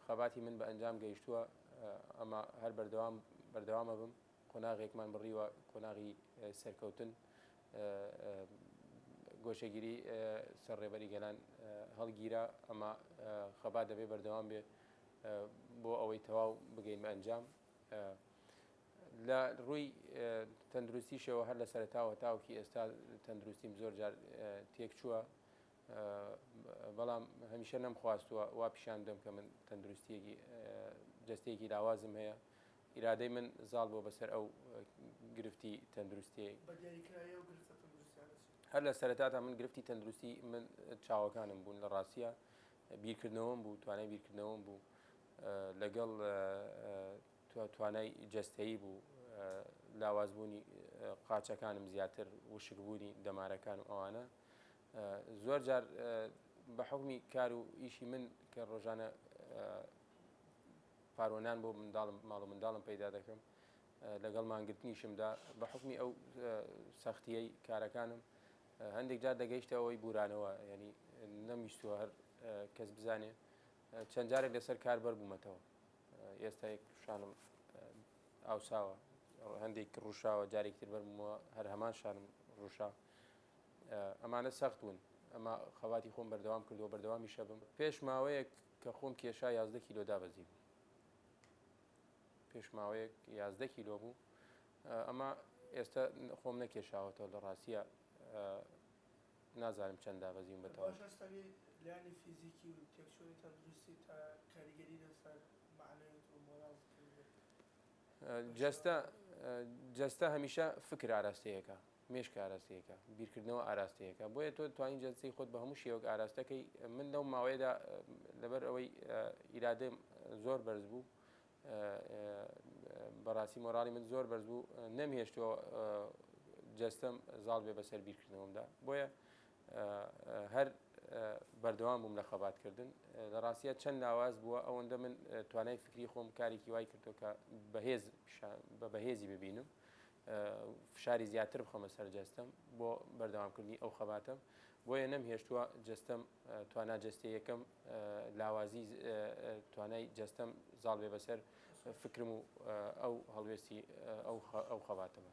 خەباتی من بە ئەنجام گەیشتووە، ئەمە هەر بەردەوام بەردەوام ئەبم، قۆناغێکمان بڕیوە، قۆناغی سەرکەوتن، گۆشەگیری سەر ڕێبەری گەلان هەڵگیرا، ئەمە خەبات دەبێ بەردەوام بێ بۆ ئەوەی تەواو بگەین بە ئەنجام. لە ڕووی تەندروستیشەوە هەر لە سەرەتاوە تاوەکی ئێستا تەندروستیم زۆر جار تێک چووە، بەڵام هەمیشە نەمخواستووە وا پیشان بدەم کە من تەندروستیەکی جستەیەکی لاوازم هەیە ئیرادەی من زاڵ بۆ بەسەر ئەو گرفتی تەندروستی هەر لە سەرەتاتا من گرفتی تەندروستی من چاوەکانم بوون لە ڕاستە بیرکردنەوەم بوو توانای بیرکردنەوەم بوو لەگەڵ توانای جستەیی بوو لاوازبوونی قاچەکانم زیاتر وشکبوونی دەمارەکان و ئەوانە زۆر جار بە حکمی کار و ئیشی من کە ڕۆژانە پارۆنان بۆ منداڵم ماڵ و منداڵم پەیدا دەکەم لەگەڵ مانگرتنیشمدا بە حکمی ئەو سەختیی کارەکانم هەندێک جار دەگەیشتە ئەوەی بورانەوە ینی نەمیستوە هەر کەس بزانێ چەند جارێک لەسەر کار بەر بوومەتەوە ئێستا یەک شانم ئاوساوە هەندێک ڕوشاوە جارێکتر بەرمەوە هەر هەمان شانم ڕوشا ئەمانە سەخت بوون، ئەما خەباتی خۆم بەردەوام کردووە، بەردەوامیش ئەبم. پێش ماوەیەک کە خۆم کێشا یازدە کیلۆ دابەزیبوو. پێش ماوەیەک یازدە کیلۆ بوو، ئەما ئێستا خۆم نەکێشاوەتەوە لە ڕاستییا نازانم چەند دابەزیوم بە تەواوی. باشە ئەستاێ لایەنی فیزیکی و تێکچوونی تەندروستی تا کاریگەری لەسەر مەعنەویت و مۆراڵت کردبێت؟ جەستە جەستە هەمیشە فکر ئاراستەیەکە. مێشک ئاراستەیەکە، بیرکردنەوە ئاراستەیەکە، بۆیە تۆ توانی جەستەی خۆت بە هەموو شێوەک ئاراستەکەی، من لەو ماوەیەدا لەبەر ئەوەی ئیرادەم زۆر بەرز بوو بەڕاستی مۆراڵی من زۆر بەرز بوو نەمهێشتووە جەستەم زاڵ بێ بەسەر بیرکردنەوەمدا بۆیە هەر بەردەوام بووم لە خەباتکردن لە ڕاستە چەند لاواز بووە ئەوەندە من توانای فکری خۆم کارێکی وای کردو کە بەهێز بە بەهێزی ببینم فشاری زیاتر بخەمە سەر جەستەم بۆ بەردەوامکردنی ئەو خەباتەم بۆیە نەم هێشتووە جەستەم توانا جەستێ یەکەم لاوازی توانای جەستەم زاڵ بێ بەسەر فکرم و ئەو هەڵوێستی ئەو خەباتەمە